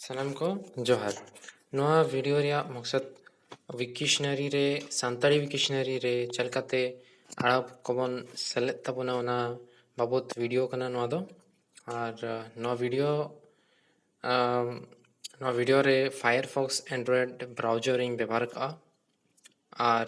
ᱥᱟᱱᱟᱢ ᱠᱚ ᱡᱚᱦᱟᱨ ᱱᱚᱣᱟ ᱵᱷᱤᱰᱤᱭᱳ ᱨᱮᱭᱟᱜ ᱢᱚᱠᱥᱚᱫ ᱣᱤᱠᱤᱥᱱᱟᱨᱤ ᱨᱮ ᱥᱟᱱᱛᱟᱲᱤ ᱣᱤᱠᱤᱥᱱᱟᱨᱤ ᱨᱮ ᱪᱮᱫ ᱞᱮᱠᱟᱛᱮ ᱟᱲᱟᱝ ᱠᱚᱵᱚᱱ ᱥᱮᱞᱮᱫ ᱛᱟᱵᱚᱱᱟ ᱚᱱᱟ ᱵᱟᱵᱚᱛ ᱵᱷᱤᱰᱤᱭᱳ ᱠᱟᱱᱟ ᱱᱚᱣᱟ ᱫᱚ ᱟᱨ ᱱᱚᱣᱟ ᱵᱷᱤᱰᱤᱭᱳ ᱱᱚᱣᱟ ᱵᱷᱤᱰᱤᱭᱳ ᱨᱮ ᱯᱷᱟᱭᱟᱨ ᱯᱷᱚᱠᱥ ᱮᱱᱰᱨᱚᱭᱮᱰ ᱵᱨᱟᱣᱡᱟᱨᱤᱧ ᱵᱮᱵᱚᱦᱟᱨ ᱠᱟᱜᱼᱟ ᱟᱨ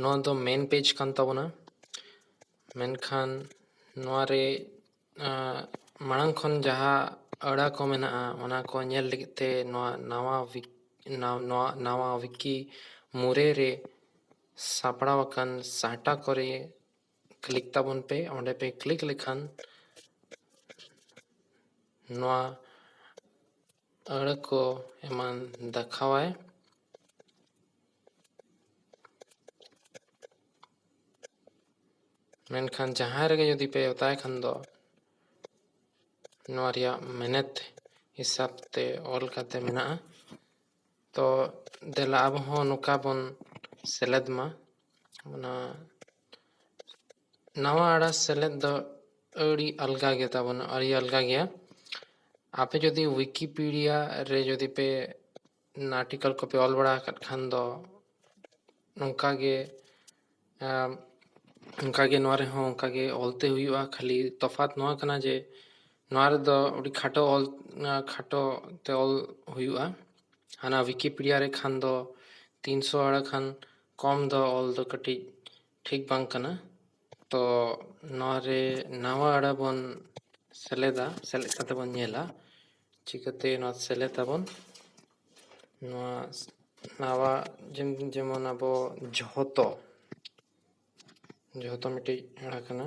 ᱱᱚᱣᱟ ᱫᱚ ᱢᱮᱱ ᱯᱮᱡᱽ ᱠᱟᱱ ᱛᱟᱵᱚᱱᱟ ᱢᱮᱱᱠᱷᱟᱱ ᱱᱚᱣᱟ ᱨᱮ ᱢᱟᱲᱟᱝ ᱠᱷᱚᱱ ᱡᱟᱦᱟᱸ ᱟᱹᱲᱟᱹ ᱠᱚ ᱢᱮᱱᱟᱜᱼᱟ ᱚᱱᱟ ᱠᱚ ᱧᱮᱞ ᱞᱟᱹᱜᱤᱫ ᱛᱮ ᱱᱚᱣᱟ ᱱᱟᱣᱟ ᱱᱚᱣᱟ ᱱᱟᱣᱟ ᱣᱤᱠᱤ ᱢᱩᱨᱮ ᱨᱮ ᱥᱟᱯᱲᱟᱣ ᱟᱠᱟᱱ ᱥᱟᱦᱴᱟ ᱠᱚᱨᱮ ᱠᱞᱤᱠ ᱛᱟᱵᱚᱱ ᱯᱮ ᱚᱸᱰᱮ ᱯᱮ ᱠᱞᱤᱠ ᱞᱮᱠᱷᱟᱱ ᱱᱚᱣᱟ ᱟᱹᱲᱟᱹ ᱠᱚ ᱮᱢᱟᱱ ᱫᱮᱠᱷᱟᱣᱟᱭ ᱢᱮᱱᱠᱷᱟᱱ ᱡᱟᱦᱟᱸ ᱨᱮᱜᱮ ᱡᱩᱫᱤ ᱯᱮ ᱚᱛᱟᱭ ᱠᱷᱟᱱ ᱫᱚ ᱱᱚᱣᱟ ᱨᱮᱭᱟᱜ ᱢᱮᱱᱮᱛ ᱦᱤᱥᱟᱹᱵ ᱛᱮ ᱚᱞ ᱠᱟᱛᱮ ᱢᱮᱱᱟᱜᱼᱟ ᱛᱚ ᱫᱮᱞᱟ ᱟᱵᱚ ᱦᱚᱸ ᱱᱚᱝᱠᱟ ᱵᱚᱱ ᱥᱮᱞᱮᱫ ᱢᱟ ᱚᱱᱟ ᱱᱟᱣᱟ ᱟᱹᱲᱟᱹ ᱥᱮᱞᱮᱫ ᱫᱚ ᱟᱹᱰᱤ ᱟᱞᱜᱟ ᱜᱮ ᱛᱟᱵᱚᱱᱟ ᱟᱹᱰᱤ ᱟᱞᱜᱟ ᱜᱮᱭᱟ ᱟᱯᱮ ᱡᱩᱫᱤ ᱣᱤᱠᱤᱯᱤᱰᱤᱭᱟ ᱨᱮ ᱡᱩᱫᱤ ᱯᱮ ᱟᱨᱴᱤᱠᱚᱞ ᱠᱚᱯᱮ ᱚᱞ ᱵᱟᱲᱟ ᱟᱠᱟᱫ ᱠᱷᱟᱱ ᱫᱚ ᱱᱚᱝᱠᱟ ᱜᱮ ᱚᱱᱠᱟ ᱜᱮ ᱱᱚᱣᱟ ᱨᱮᱦᱚᱸ ᱚᱱᱠᱟ ᱜᱮ ᱚᱞ ᱛᱮ ᱦᱩᱭᱩᱜᱼᱟ ᱠᱷᱟᱹᱞᱤ ᱛᱚᱯᱷᱟᱛ ᱱᱚᱣᱟ ᱠᱟᱱᱟ ᱡᱮ ᱱᱚᱣᱟ ᱨᱮᱫᱚ ᱟᱹᱰᱤ ᱠᱷᱟᱴᱚ ᱚᱞ ᱠᱷᱟᱴᱚ ᱛᱮ ᱚᱞ ᱦᱩᱭᱩᱜᱼᱟ ᱦᱟᱱᱟ ᱣᱤᱠᱤᱯᱤᱰᱤᱭᱟ ᱨᱮ ᱠᱷᱟᱱ ᱫᱚ ᱛᱤᱱᱥᱚ ᱟᱹᱲᱟᱹ ᱠᱷᱟᱱ ᱠᱚᱢ ᱫᱚ ᱚᱞ ᱫᱚ ᱠᱟᱹᱴᱤᱡ ᱴᱷᱤᱠ ᱵᱟᱝ ᱠᱟᱱᱟ ᱛᱚ ᱱᱚᱣᱟ ᱨᱮ ᱱᱟᱣᱟ ᱟᱹᱲᱟᱹ ᱵᱚᱱ ᱥᱮᱞᱮᱫᱟ ᱥᱮᱞᱮᱫ ᱠᱟᱛᱮ ᱵᱚᱱ ᱧᱮᱞᱟ ᱪᱤᱠᱟᱹᱛᱮ ᱱᱚᱣᱟ ᱥᱮᱞᱮᱫ ᱟᱵᱚᱱ ᱱᱚᱣᱟ ᱱᱟᱣᱟ ᱡᱮᱢᱚᱱ ᱟᱵᱚ ᱡᱷᱚᱛᱚ ᱡᱷᱚᱛᱚ ᱢᱤᱫᱴᱤᱡ ᱟᱹᱲᱟᱹ ᱠᱟᱱᱟ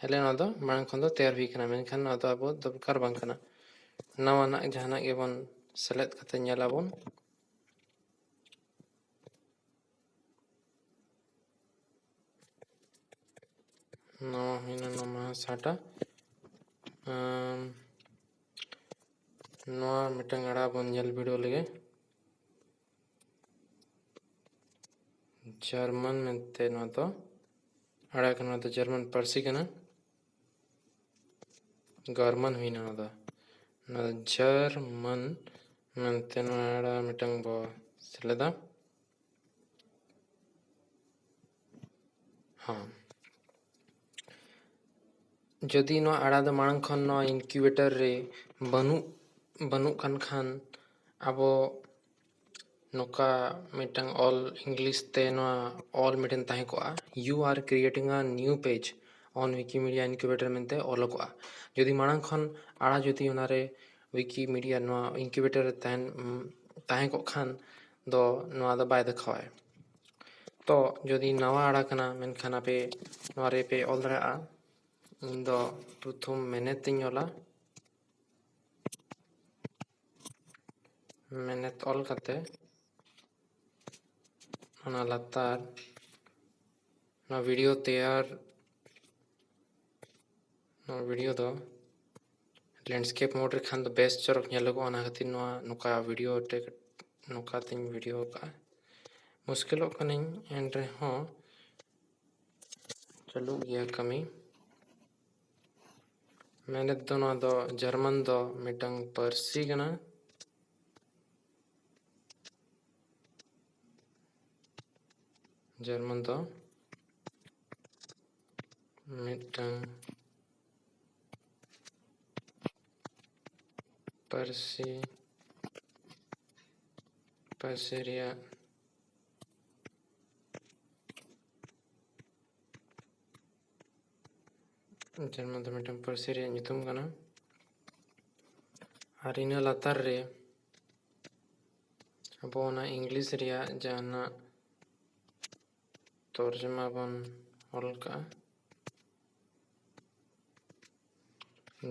ᱦᱮᱞᱮ ᱱᱚᱣᱟ ᱫᱚ ᱢᱟᱲᱟᱝ ᱠᱷᱚᱱ ᱫᱚ ᱛᱮᱭᱟᱨ ᱦᱩᱭ ᱠᱟᱱᱟ ᱢᱮᱱᱠᱷᱟᱱ ᱱᱚᱣᱟ ᱫᱚ ᱟᱵᱚ ᱫᱚᱨᱠᱟᱨ ᱵᱟᱝ ᱠᱟᱱᱟ ᱱᱟᱣᱟᱱᱟᱜ ᱡᱟᱦᱟᱱᱟᱜ ᱜᱮᱵᱚᱱ ᱥᱮᱞᱮᱫ ᱠᱟᱛᱮ ᱧᱮᱞ ᱟᱵᱚᱱ ᱱᱚᱣᱟ ᱦᱩᱭᱱᱟ ᱱᱚᱣᱟ ᱥᱟᱴᱟ ᱱᱚᱣᱟ ᱢᱤᱫᱴᱟᱝ ᱟᱲᱟ ᱵᱚᱱ ᱧᱮᱞ ᱵᱤᱰᱟᱹᱣ ᱞᱮᱜᱮ ᱡᱟᱨᱢᱟᱱ ᱢᱮᱱᱛᱮ ᱱᱚᱣᱟ ᱫᱚ ᱟᱲᱟᱜ ᱠᱟᱱᱟ ᱱᱚᱣᱟ ᱫᱚ ᱡᱟᱨᱢᱟᱱ ᱯᱟᱹᱨᱥᱤ ᱠᱟᱱᱟ ᱜᱟᱨᱢᱟᱱ ᱦᱩᱭᱱᱟ ᱱᱚᱣᱟ ᱫᱚ ᱱᱚᱣᱟ ᱫᱚ ᱡᱟᱨᱢᱟᱱ ᱢᱮᱱᱛᱮ ᱱᱚᱣᱟ ᱟᱲᱟᱜ ᱢᱤᱫᱴᱟᱝ ᱵᱚ ᱥᱮᱞᱮᱫᱟ ᱦᱮᱸ ᱡᱩᱫᱤ ᱱᱚᱣᱟ ᱟᱲᱟ ᱫᱚ ᱢᱟᱲᱟᱝ ᱠᱷᱚᱱ ᱱᱚᱣᱟ ᱤᱱᱠᱤᱭᱩᱵᱮᱴᱟᱨ ᱨᱮ ᱵᱟᱹᱱᱩᱜ ᱵᱟᱹᱱᱩᱜ ᱠᱟᱱ ᱠᱷᱟᱱ ᱟᱵᱚ ᱱᱚᱝᱠᱟ ᱢᱤᱫᱴᱟᱝ ᱚᱞ ᱤᱝᱞᱤᱥ ᱛᱮ ᱱᱚᱣᱟ ᱚᱞ ᱢᱤᱫᱴᱮᱱ ᱛᱟᱦᱮᱸ ᱠᱚᱜᱼᱟ you are creating a new page on Wikimedia Incubator ᱢᱮᱱᱛᱮ ᱚᱞᱚᱜᱚᱜᱼᱟ ᱡᱩᱫᱤ ᱢᱟᱲᱟᱝ ᱠᱷᱚᱱ ᱟᱲᱟ ᱡᱩᱫᱤ ᱚᱱᱟᱨᱮ ᱣᱤᱠᱤᱢᱤᱰᱤᱭᱟ ᱱᱚᱣᱟ ᱤᱱᱠᱤᱭᱩᱵᱮᱴᱟᱨ ᱨᱮ ᱛᱟᱦᱮᱱ ᱛᱟᱦᱮᱸ ᱠᱚᱜ ᱠᱷᱟᱱ ᱫᱚ ᱱᱚᱣᱟ ᱫᱚ ᱵᱟᱭ ᱫᱮᱠᱷᱟᱣᱟᱭ ᱛᱚ ᱡᱩᱫᱤ ᱱᱟᱣᱟ ᱟᱲᱟ ᱠᱟᱱᱟ ᱢᱮᱱᱠᱷᱟᱱ ᱟᱯᱮ ᱱᱚᱣᱟ ᱨᱮᱯᱮ ᱚᱞ ᱫᱟᱲᱮᱭᱟᱜᱼᱟ ᱤᱧ ᱫᱚ ᱯᱨᱚᱛᱷᱚᱢ ᱢᱮᱱᱮᱛ ᱤᱧ ᱚᱞᱟ ᱢᱮᱱᱮᱛ ᱚᱞ ᱠᱟᱛᱮ ᱚᱱᱟ ᱞᱟᱛᱟᱨ ᱱᱚᱣᱟ ᱵᱷᱤᱰᱤᱭᱳ ᱛᱮᱭᱟᱨ ᱱᱚᱣᱟ ᱵᱷᱤᱰᱤᱭᱳ ᱫᱚ ᱞᱮᱱᱰᱥᱠᱮᱯ ᱢᱳᱰ ᱨᱮ ᱠᱷᱟᱱ ᱫᱚ ᱵᱮᱥ ᱪᱚᱨᱚᱠ ᱧᱮᱞᱚᱜᱚᱜᱼᱟ ᱚᱱᱟ ᱠᱷᱟᱹᱛᱤᱨ ᱱᱚᱣᱟ ᱱᱚᱝᱠᱟ ᱵᱷᱤᱰᱤᱭᱳ ᱛᱮ ᱱᱚᱝᱠᱟ ᱛᱤᱧ ᱵᱷᱤᱰᱤᱭᱳ ᱟᱠᱟᱫᱼᱟ ᱢᱩᱥᱠᱤᱞᱚᱜ ᱠᱟᱹᱱᱟᱹᱧ ᱮᱱ ᱨᱮᱦᱚᱸ ᱪᱟᱹᱞᱩᱜ ᱜᱮᱭᱟ ᱠᱟᱹᱢᱤ ᱢᱮᱱᱮᱛ ᱫᱚ ᱱᱚᱣᱟ ᱫᱚ ᱡᱟᱨᱢᱟᱱ ᱫᱚ ᱢᱤᱫᱴᱟᱝ ᱯᱟᱹᱨᱥᱤ ᱠᱟᱱᱟ ᱡᱟᱨᱢᱟᱱ ᱫᱚ ᱢᱤᱫᱴᱟᱝ ᱯᱟᱹᱨᱥᱤ ᱯᱟᱹᱨᱥᱤ ᱨᱮᱭᱟᱜ ᱡᱟᱨᱢᱟᱱ ᱫᱚ ᱢᱤᱫᱴᱟᱝ ᱯᱟᱹᱨᱥᱤ ᱨᱮᱭᱟᱜ ᱧᱩᱛᱩᱢ ᱠᱟᱱᱟ ᱟᱨ ᱤᱱᱟᱹ ᱞᱟᱛᱟᱨ ᱨᱮ ᱟᱵᱚ ᱚᱱᱟ ᱤᱝᱞᱤᱥ ᱨᱮᱭᱟᱜ ᱡᱟᱦᱟᱱᱟᱜ ᱛᱚᱨᱡᱚᱢᱟ ᱵᱚᱱ ᱚᱞ ᱠᱟᱜᱼᱟ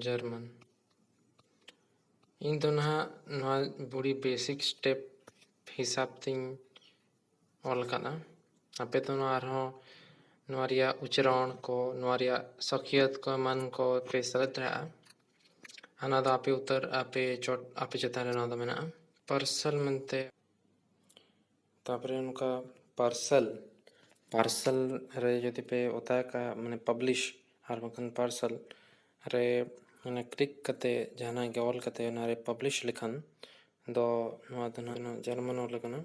ᱡᱟᱨᱢᱟᱱ ᱤᱧ ᱫᱚ ᱱᱟᱦᱟᱜ ᱱᱚᱣᱟ ᱵᱩᱲᱤ ᱵᱮᱥᱤᱠ ᱥᱴᱮᱯ ᱦᱤᱥᱟᱵ ᱛᱤᱧ ᱚᱞ ᱠᱟᱫᱟ ᱟᱯᱮ ᱫᱚ ᱱᱚᱣᱟ ᱟᱨᱦᱚᱸ ᱱᱚᱣᱟ ᱨᱮᱭᱟᱜ ᱩᱪᱨᱟᱹᱬ ᱠᱚ ᱱᱚᱣᱟ ᱨᱮᱭᱟᱜ ᱥᱟᱹᱠᱷᱭᱟᱹᱛ ᱠᱚ ᱮᱢᱟᱱ ᱠᱚ ᱯᱮ ᱥᱮᱞᱮᱫ ᱫᱟᱲᱮᱭᱟᱜᱼᱟ ᱚᱱᱟ ᱫᱚ ᱟᱯᱮ ᱩᱛᱟᱹᱨ ᱟᱯᱮ ᱪᱚᱴ ᱟᱯᱮ ᱪᱮᱛᱟᱱ ᱨᱮ ᱱᱚᱣᱟ ᱫᱚ ᱢᱮᱱᱟᱜᱼᱟ ᱯᱟᱨᱥᱟᱞ ᱢᱮᱱᱛᱮ ᱛᱟᱯᱚᱨᱮ ᱱᱚᱝᱠᱟ ᱯᱟᱨᱥᱮᱞ ᱯᱟᱨᱥᱮᱞ ᱨᱮ ᱡᱩᱫᱤ ᱯᱮ ᱚᱛᱟ ᱠᱟᱜᱼᱟ ᱢᱟᱱᱮ ᱯᱟᱵᱽᱞᱤᱥ ᱟᱨ ᱵᱟᱝᱠᱷᱟᱱ ᱯᱟᱨᱥᱮᱞ ᱨᱮ ᱢᱟᱱᱮ ᱠᱞᱤᱠ ᱠᱟᱛᱮ ᱡᱟᱦᱟᱱᱟᱜ ᱜᱮ ᱚᱞ ᱠᱟᱛᱮ ᱚᱱᱟᱨᱮ ᱯᱟᱵᱽᱞᱤᱥ ᱞᱮᱠᱷᱟᱱ ᱫᱚ ᱱᱚᱣᱟ ᱫᱚ ᱱᱟᱦᱟᱜ ᱱᱚᱣᱟ ᱡᱟᱨᱢᱟᱱ ᱚᱞ ᱠᱟᱱᱟ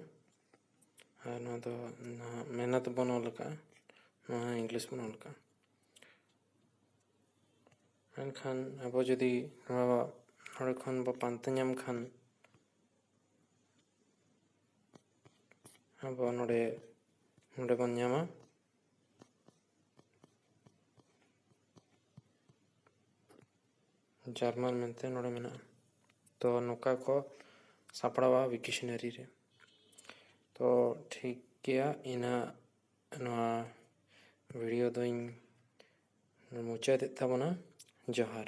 ᱟᱨ ᱱᱚᱣᱟ ᱫᱚ ᱱᱟᱦᱟᱜ ᱢᱮᱦᱱᱚᱛ ᱵᱚᱱ ᱚᱞ ᱠᱟᱜᱼᱟ ᱱᱚᱣᱟ ᱤᱝᱞᱤᱥ ᱵᱚᱱ ᱚᱞ ᱠᱟᱜᱼᱟ ᱢᱮᱱᱠᱷᱟᱱ ᱟᱵᱚ ᱡᱩᱫᱤ ᱱᱚᱣᱟ ᱱᱚᱰᱮ ᱠᱷᱚᱱ ᱵᱚ ᱯᱟᱱᱛᱮ ᱧᱟᱢ ᱠᱷᱟᱱ ᱟᱵᱚ ᱱᱚᱰᱮ ᱱᱚᱰᱮ ᱵᱚᱱ ᱧᱟᱢᱟ ᱡᱟᱨᱢᱟᱱ ᱢᱮᱱᱛᱮ ᱱᱚᱰᱮ ᱢᱮᱱᱟᱜᱼᱟ ᱛᱚ ᱱᱚᱝᱠᱟ ᱠᱚ ᱥᱟᱯᱲᱟᱣᱟ ᱣᱤᱠᱤᱥᱚᱱᱟᱨᱤ ᱨᱮ ᱛᱚ ᱴᱷᱤᱠ ᱜᱮᱭᱟ ᱤᱱᱟᱹ ᱱᱚᱣᱟ ᱵᱷᱤᱰᱤᱭᱳ ᱫᱚᱧ ᱢᱩᱪᱟᱹᱫᱮᱫ ᱛᱟᱵᱚᱱᱟ ᱡᱚᱦᱟᱨ